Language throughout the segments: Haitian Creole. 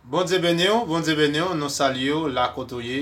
Bondye beniw Bondye beniw nou salyew la kote ou ye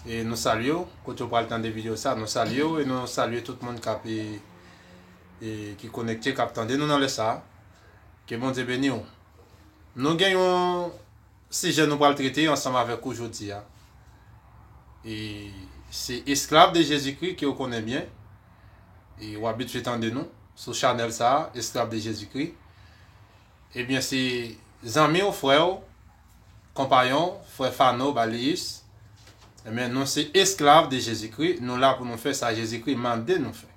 e nou salyew kote ou pral tande video sa nou salyew e nou salye tout moun kap e ki konekte kap tande nou nan lè sa ke Bondye beniw nou gen yon sijè nou pral trete ansanm avèk ou jodi a e se esklav de Jezikri ke ou konnen byen e ou abitye tande nou sou chanèl sa esklav de Jezikri Ebyen se zanmi w frè w konpayon w frè Fano Balius ebyen nou se esklav de Jezikri nou la pou nou fè sa Jezikri mande nou fè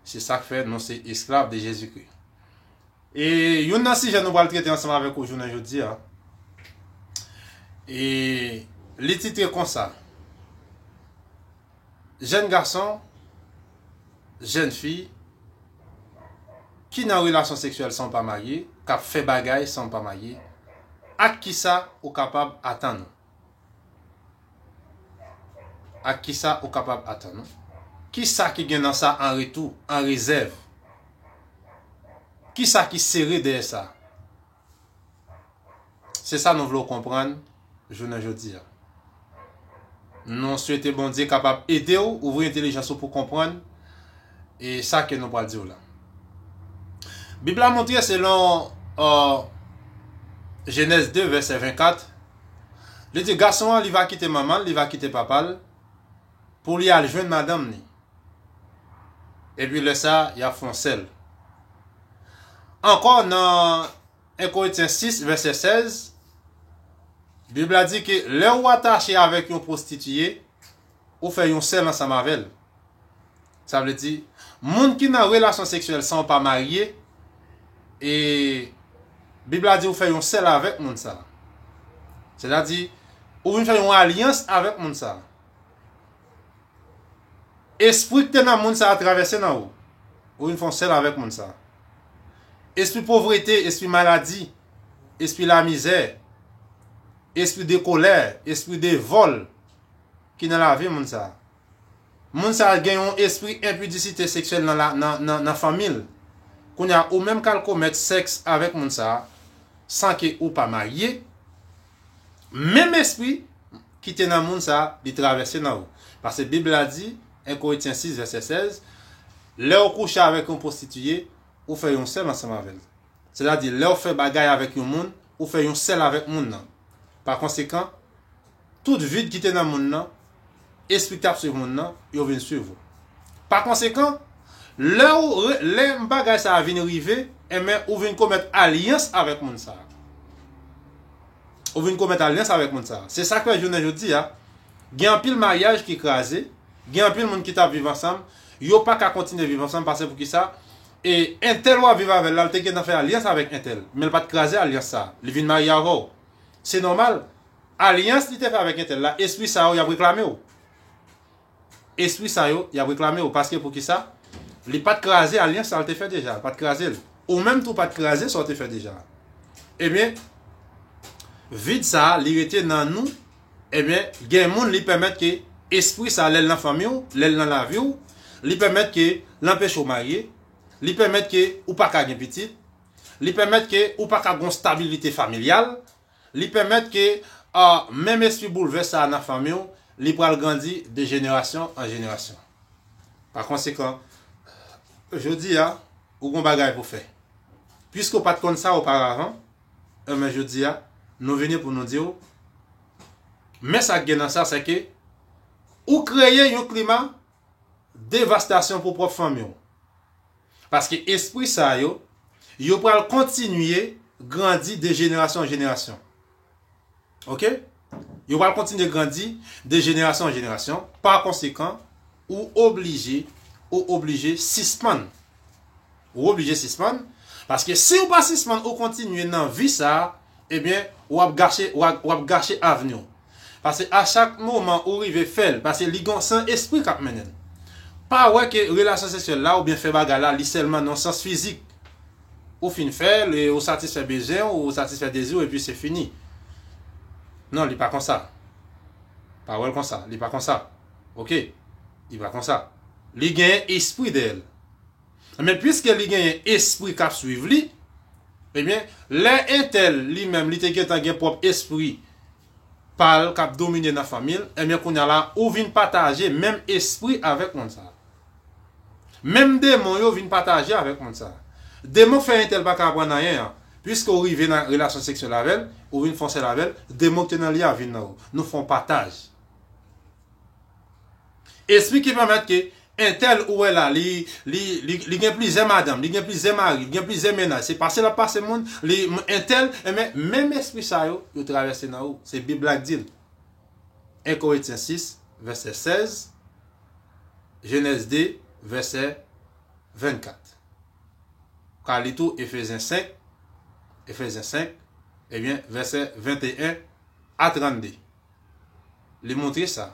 se sak fè nou se esklav de Jezikri e youn nan sijè nou pral trete ansanm avèk ou jounen jodi a e li titre konsa. Jèn gason, jèn fi ki nan relasyon seksyèl san w pa marye, k ap fè bagay san w pa marye, ak kisa ou kapab atann ou? Ak kisa ou kapab atann ou? Kisa ki gen nan sa an retou, an rezèv? Kisa ki sere dèyè sa? Se sa nou vle w konprann jounen jodi a. Nou swete Bondye kapab ede w ouvri entelijans ou pou w konprann e sa ke nou pral di w la. Bib la montre selon Jenèz 2 vèsè 24, li di gason an li va kite manman l, li va kite papa l, pou li al jwenn madanm ni. Epi lè sa y ap fon sèl. Ankò nan 1 Korintyen 6 vèsè 16, Bib la di ke lè ou atache avèk yon pwostitiye, ou fè yon sèl ansanm avè l. Sa vle di, moun ki nan relasyon seksyèl san ou pa marye, e Bib la di ou fè yon sèl avèk moun sa a. Sètadi, ou vin fè yon alyans avèk moun sa a. Espri ki te nan moun sa a travèse nan ou. Ou vin fè yon sèl avèk moun sa a. Espri povrete, espri maladi, espri lamizè, espri de kolè, espri de vòl ki nan lavi moun sa a. Moun sa a gen yon espri enpidisite seksyèl nan fanmi l. Kounye a, ou menm k al komèt sèks avèk moun sa a san ke ou pa marye, menm espri ki te nan moun sa a, li travèse nan ou. Pase Bib la di, 1 Korintyen 6 vèsè 16, Lè ou kouche avèk yon pwostitiye, ou fè yon sèl ansanm avè l. Sètadi, lè ou fè bagay avèk yon moun, ou fè yon sèl avèk moun nan. Pakonsekan, tout vid ki te nan moun nan, espri k ap suiv moun nan, yo vin suiv ou. Pakonsekan, lè ou lè bagay sa a vin rive, enben ou vin komèt alyans avèk moun sa a. Ou vin komèt alyans avèk moun sa a. Se sa k fè jounen jodi a, gen anpil maryaj ki kraze, gen anpil moun ki t ap viv ansanm, yo pa ka kontinye viv ansanm pase pou ki sa, e entèl w ap viv avè l la, l te gentan fè alyans avèk entèl, men l pa t kraze alyans sa a, li vin marye avè w. Se nòmal. Alyans li te fè avèk entèl la espri sa yo yap reklame w espri sa yo yap reklame w paske poukisa li pat kraze alyans sa l te fè deja l pat kraze l ou menm tou pat kraze sa w te fè deja ebyen vid sa li rete nan nou ebyen gen moun li pèmèt ke espri sa lèl nan fanmi w lèl nan lavi w li pèmèt ke l anpeche w marye li pèmèt ke ou paka gen pitit li pèmèt ke ou paka gon stabilite familyal Li pèmèt ke menm espri boulvès sa a nan fanmi w, li pral grandi de jenerasyon an jenerasyon. Pa konsekan, jodi a, ou gon bagay pou fè. Piske ou pa t konn sa oparavan, enben jodi a, nou vini pou nou di w, men sa k gen nan sa, sèke ou kreye yon klima devastasyon pou pwòp fanmi w. Paske espri sa yo, yo pral kontinye grandi de jenerasyon an jenerasyon. Ok? Yo pral kontinye grandi de jenerasyon an jenerasyon, pa konsekan, ou oblije, ou oblije sispann. Ou oblije sispann, paske siw pa sispann ou kontinye nan vi sa, ebyen ou ap gache ou ap gache avniw. Pase a chak moman ou rive fèl, pase li gon san espri kap mennenl. Pa wè ke relasyon seksyèl la oubyen fè bagay la li sèlman nan sans fizik. Ou fin fèl e ou satisfè bezwenw, ou satisfè deziw epi se fini. Non li pa konsa. Pa wèl konsa, li pa konsa. Ok. Li pa konsa. Li gen espri dèyèl. Ebyen pwiske li genyen espri kap swiv li, ebyen lè entèl li menm li te gentan gen pwòp espri pal kap domine nan fanmi l, ebyen kounya la ou vin pataje menm espri avèk moun sa. Menm demon yo vin pataje avèk moun sa. Demon k fè entèl paka aprann anyen an, pwiske ou rive nan relasyon seksyèl avè l, ou vin fon sèl avè l, demon ki te nan li a vin nan ou. Nou fon pataj. Espri ki pèmèt ke entèl ou wè la li li gen plizyè madanm, li gen plizyè mari, li gen plizyè mennaj, se pase lap pase moun, li entèl, enben menm espri sa yo, yo travèse nan ou, se bib la k dil. 1 Corinthiens 6 verset 16, Genèse 2 verset 24. Ou ka li tou Ephésiens 5, Ephésiens 5, ebyen verset 21 a 32. li montre sa,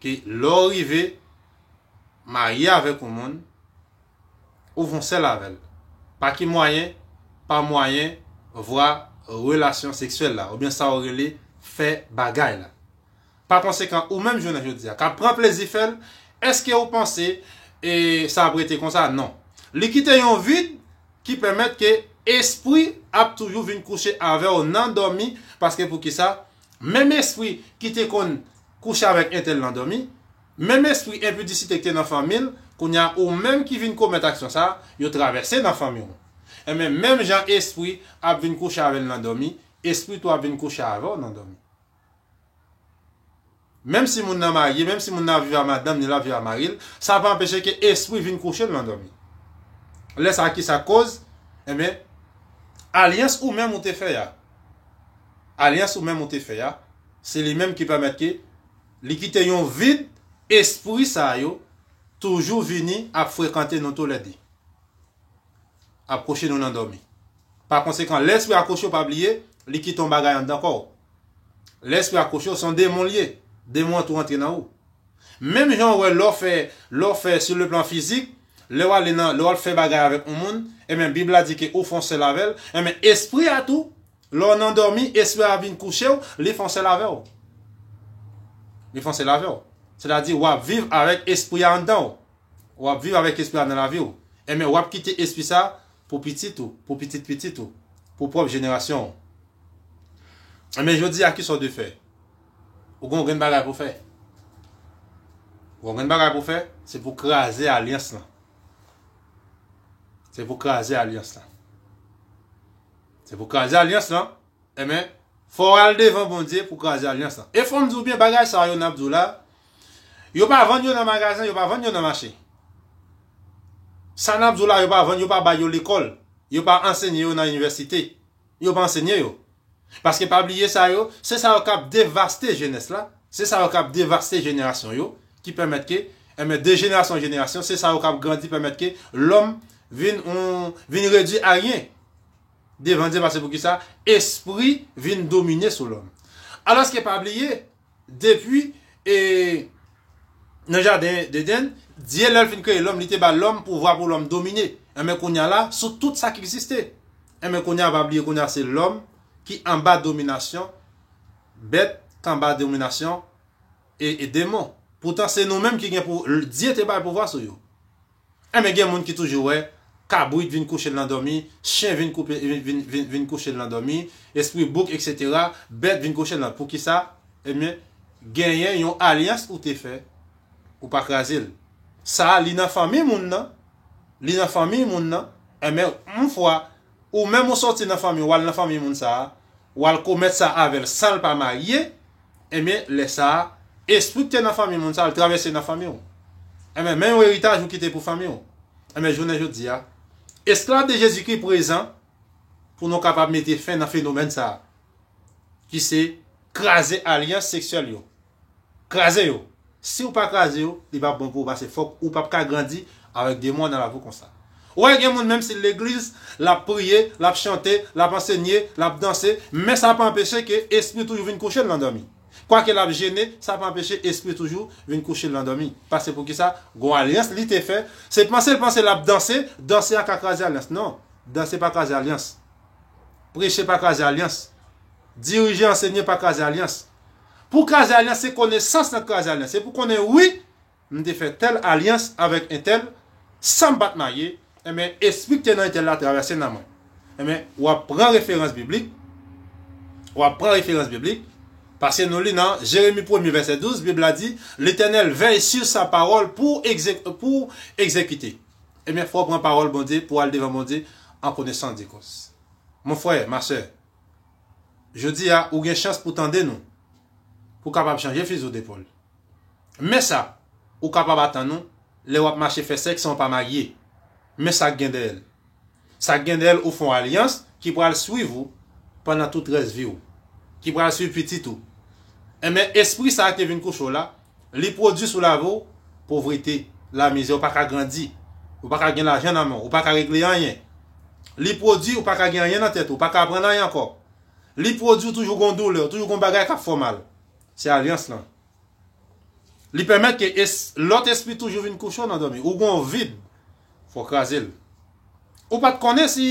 ke lè w rive marye avèk yon moun, ou fon sèl avè l, pa ki mwayen, pa mwayen vwa relasyon seksyèl la, oubyen sa ou rele fè bagay la. Pa konsekan, ou menm jounen jodi a, k ap pran plezi fè l, èske ou panse sa ap rete konsa? Non. Li kite yon vid. ki pèmèt ke espri ap toujou vin kouche avèw nan dòmi paske poukisa menm espri ki te konn kouche avèk entèl nan dòmi menm espri enpidisite ki te nan fanmil kounya ou menm ki vin komèt aksyon sa yo travèse nan fanmiw enben menm jan espri ap vin kouche avèl nan dòmi espri tou ap vin kouche avèw nan dòmi. Menm si moun nan marye, menm si moun nan ap viv a madanm ni l ap viv a mari l, sa pa anpeche ke espri vin kouche l nan dòmi. Lè sa ki sa koz? Enben, alyans ou menm ou te fè a, alyans ou menm ou te fè a, se li menm ki pèmèt ke li kite yon vid, espri sa yo toujou vini ap frekante nou tou lè de. ap kouche nou nan dòmi. Pa konsekan, lè espri a kouche w pa bliye, li kite yon bagay anndan kò w. Lè espri a kouche w, se yon demon li ye. Demon an tou rantre nan ou. Menm jan ou wè lè w fè, lè w fè sou le plan fizik, lè w ale nan, lè w ap fè bagay avèk yon moun, enben Bib la di ke ou fè yon sèl avè l, enben espri a tou, lè w nan dòmi, espri a ap vin kouche w, li fè yon sèl avè w. Li fè yon sèl avè w. Sètadi w ap viv avèk espri a anndan w. Wap viv avèk espri a nan lavi w, enben wap kite espri sa pou pitit ou, pou pitit pitit ou, pou pwòp jenerasyon w. Enben jodi a kisa w dwe fè? Ou gen yon grenn bagay pou w fè. Ou gen yon grenn bagay pou w fè, se pou w kraze alyans lan. Se pou w kraze alyans lan. Se pou w kraze alyans lan Amen Fòw al devan Bondye pou kraze alyans lan. E fòm di w byen bagay sa yo nap di w la yo pa vann yo nan magazen yo pa vann yo nan mache. Sa nap di w la yo pa vann yo pa bay yo lekòl yo pa ansenye yo nan inivèsite yo pa ansenye yo. Paske pa bliye sa yo se sa yo kap devaste jenès la se sa yo kap devaste jenerasyon yo ki pèmèt ke Amen de jenerasyon an jenerasyon se sa yo kap grandi pèmèt ke lòm vin yon vin redwi a ryen. devan Dye pase poukisa espri vin domine sou lòm. Alòske pa bliye depi e nan jaden dedenn Dye lèl fin kreye lòm li te ba lòm pouvwa pou lòm domine enben kounya la sou tout sa ki egziste enben kounya pa bliye kounya se lòm ki anba dominasyon bèt k anba dominasyon e demon poutan se nou menm ki gen pou Dye te bay pouvwa sou yo. Enben gen moun ki toujou wè, kabrit vin kouche l nan dòmi, chen vin koupe vin vin kouche l nan dòmi, espri bouk eksetera, bèt vin kouche l nan poukisa? Enben genyen yon alyans ou te fè, ou pa kraze l. Sa a li nan fanmi moun nan, li nan fanmiy moun nan, enben yon fwa ou menm ou sòti nan fanmi w al nan fanmiy moun sa a, wal komèt sa avèl sanl pa marye enben lè sa espri ki te nan fanmi moun sa al travèse nan fanmiw enben men yon eritaj ou kite pou fanmiw enben jounen jodia esklav de Jezikri prezan pou nou kapab mete fen nan fenomèn sa ki se kraze alyans seksyèl yo. Kraze yo! Siw pa kraze yo, li pap bon pou ou pase fòk ou pap ka grandi avèk demon nan laviw konsa. Ou wè gen moun menm sil legliz, lap priye, lap chante, lap ansenye, lap danse, men sa pa anpeche ke espri toujou vin kouchel nan dòmi. Kwake lap jene, sa pa anpeche espri toujou vin kouchel nan dòmi. Pase poukisa gon alyans li te fè, se panse l panse lap danse, danse a ka kraze alyans. Non, danse pa kraze alyans. Preche pa kraze alyans. Dirije, ansenye pa kraze alyans. Pou kraze alyans se konesans nan kraze alyans. Se pou konnen wi m te fè tèl alyans avèk entèl san m pa t marye, enben espri k te nan entèl la travèse nan mwen. Enben w ap pran referans biblik, w ap pran referans biblik, pase nou li nan Jeremi premye vèsè 12, Bib la di, Letènèl vèy si sa pawòl pou pou egzekite. Enben fò w pran pawòl Bondye pou w al devan Bondye an konesans de kòz. Mon frè, ma sè. Jodi a ou gen chans pou tande nou. Pou kapab chanje fizo depòl. Men sa ou kapab atann ou lè wap mache fè sèks san ou pa marye. Men sak gen dèyè l. Sak gen dèyè l ou fon alyans ki pral swiv ou pandan tout rès vi w. Ki pral swiv pitit ou. Enben espri sa ki vin kouche w la. Li pwodui sou lavi w povrete, lamizè, ou pa ka grandi, ou pa ka gen lajan nan men w, ou pa ka regle anyen. Li pwodui ou pa ka gen anyen nan tèt ou, ou pa ka aprann anyen ankò. Li pwodui ou toujou gen yon doulè, ou toujou gen yon bagay k ap fè w mal. Se alyans lan. Li pèmèt ke lòt espri toujou vin kouche w nan dòmi. Ou gen yon vid, fò w kraze l. Ou pa t konnen si,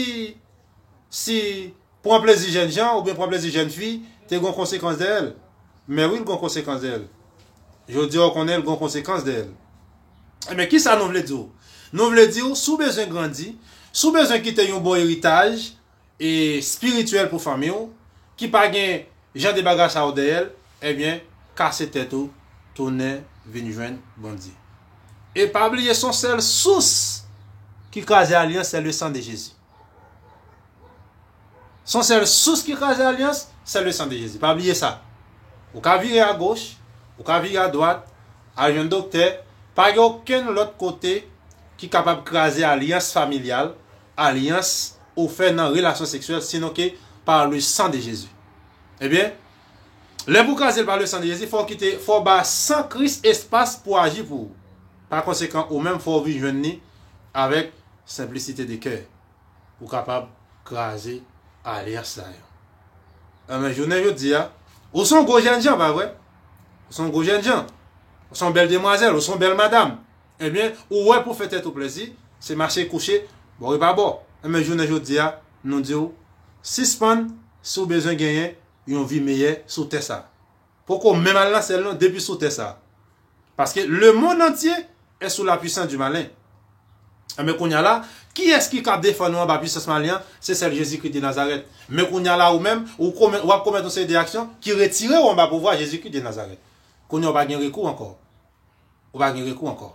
si, Pran plezi jènjan oubyen pran plezi jèn fi te gon konsekans dèyèl? Mè wi l gon konsekans dèyèl. Jodi a w konnen l gon konsekans dèyèl. Enben kisa nou vle di w? Nou vle di w si w bezwen grandi, si w bezwen kite yon bon eritaj e spirityèl pou fanmi w ki pa gen jan de bagay sa yo dèyèl, enben kase tèt ou tounen vin jwenn Bondye. E pa bliye son sèl sous ki kraze alyans se le sang de Jésus. Son sèl sous ki kraze alyans, sè le san de Jezi. Pa bliye sa. Ou ka vire a goch, ou ka vire a dwat, al jwenn doktè, pa gen okenn lòt kote ki kapab kraze alyans familyal, alyans ou fè nan relasyon seksyèl sinon ke pa le san de Jezi. Ebyen, lè pou kraze l pa le san de Jezi, fò w kite, fò w ba san Kris espas pou aji pou ou. Pa konsekan, ou menm fò w vin jwenn ni avèk Senplisite de kè ou kapab kraze alyans sa yo. Enben, jounen jodi a, ou son gwo jènjan, pa vre? Ou son gwo jènjan. Ou son bèl demwazèl, ou son bèl madam. Enben, ou wè pou fè tèt ou plezi, se mache kouche bò e pa bò. Enben, jounen jodi a, nou di ou, sispann si ou bezwen genyen yon vi meyè sou tè sa. Poko menm al nan syèl non depi sou tè sa. Paske le mond antye est sou la puissance du malin. Enben kounya la, kiyès ki ka defann ou anba puissance malin an, se sèl Jezikri de Nazarèt. Men kounya la ou menm, ou komèt, wap komèt yon seri de aksyon ki retire ou anba pouvwa Jezikri de Nazarèt. Kounya ou pa gen rekou ankò. ou pa gen rekou ankò.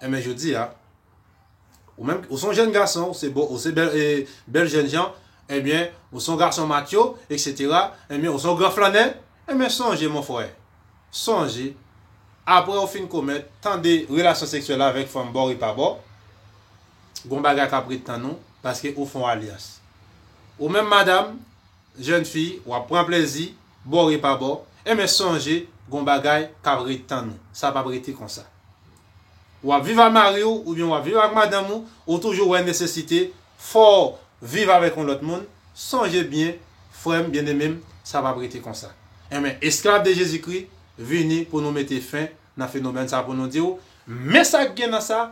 Enben jodi a, ou menm, ou son jèn gason, ou se bo, ou se bèl, e, bèl jèn jan, enben, ou son gason matcho, eksetera, enben, ou son gran flannè, enben sonje mon frè, sonje, apre ou fin komèt, tande, relasyon seksyèl avèk fanm bor e pa bò, gon bagay k ap ret tann ou, paske ou fon alyans. Ou menm madam. Jèn fi, wap pran plezi, bò e pa bò, enben sonje gon bagay kap ret tann ou, sa pap rete konsa. Wap viv ak mari w oubyen wap viv ak madanm ou, ou toujou wè nesesite fòw viv avèk yon lòt moun, sonje byen frèm byennemem sa pap rete konsa. Enben esklav de Jezi Kri vini pou nou mete fen nan fenomèn sa pou nou diw men sak gen nan sa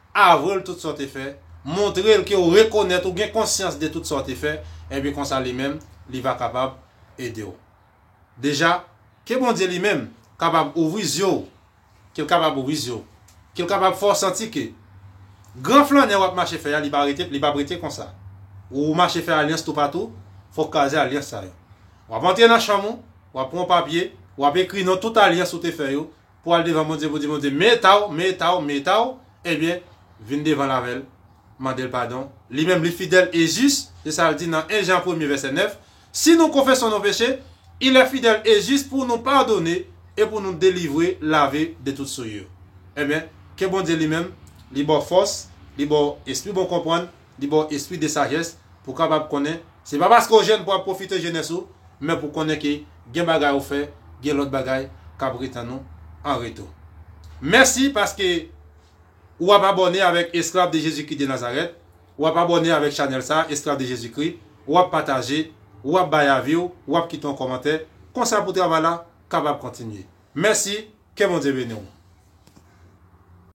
Avwel tout sa w te fè, montre l ke w rekonèt ou gen konsyans de tout sa w te fè, ebyen konsa li menm li va kapab ede w. Deja, ke Bondye li menm kapab ouvri zye w, ke l kapab ouvri zye w, ke l kapab fè w santi ke gran flannè w ap mache fè a li pa rete, li p ap rete konsa. Ou mache fè alyans toupatou, fò w kraze alyans sa yo. W ap antre nan chanm ou, w ap pran yon papye, w ap ekri non tout alyans ou te fè yo, pou al devan Bondye pou di Bondye me taw me taw me taw ebyen vin devan l avèl mandel padon li menm li fidèl e jis se sal di nan 1 Jan premye vèsè 9 si nou konfeson nou peche ilè fidèl e jis pou nou padone e pou nou delivre lave de tout souillure ebyen ke Bondye li menm li baw fòs li baw espri bon konprann Li ba w espri de sajès pou w kapab konnen se pa paske w jèn pou w ap pwofite jenès ou, men pou w konnen ke gen bagay ou fè, gen lòt bagay k ap retann ou an retou. Mèsi paske ou ap abòne avèk Esklav de Jezikri de Nazarèt, ou ap abòne avèk chanèl sa a, Esklav de Jezikri, ou ap pataje, ou ap bay avi w, ou ap kite yon kòmantè, konsa pou travay la kapab kontinye. Mèsi, ke Bondye beni w!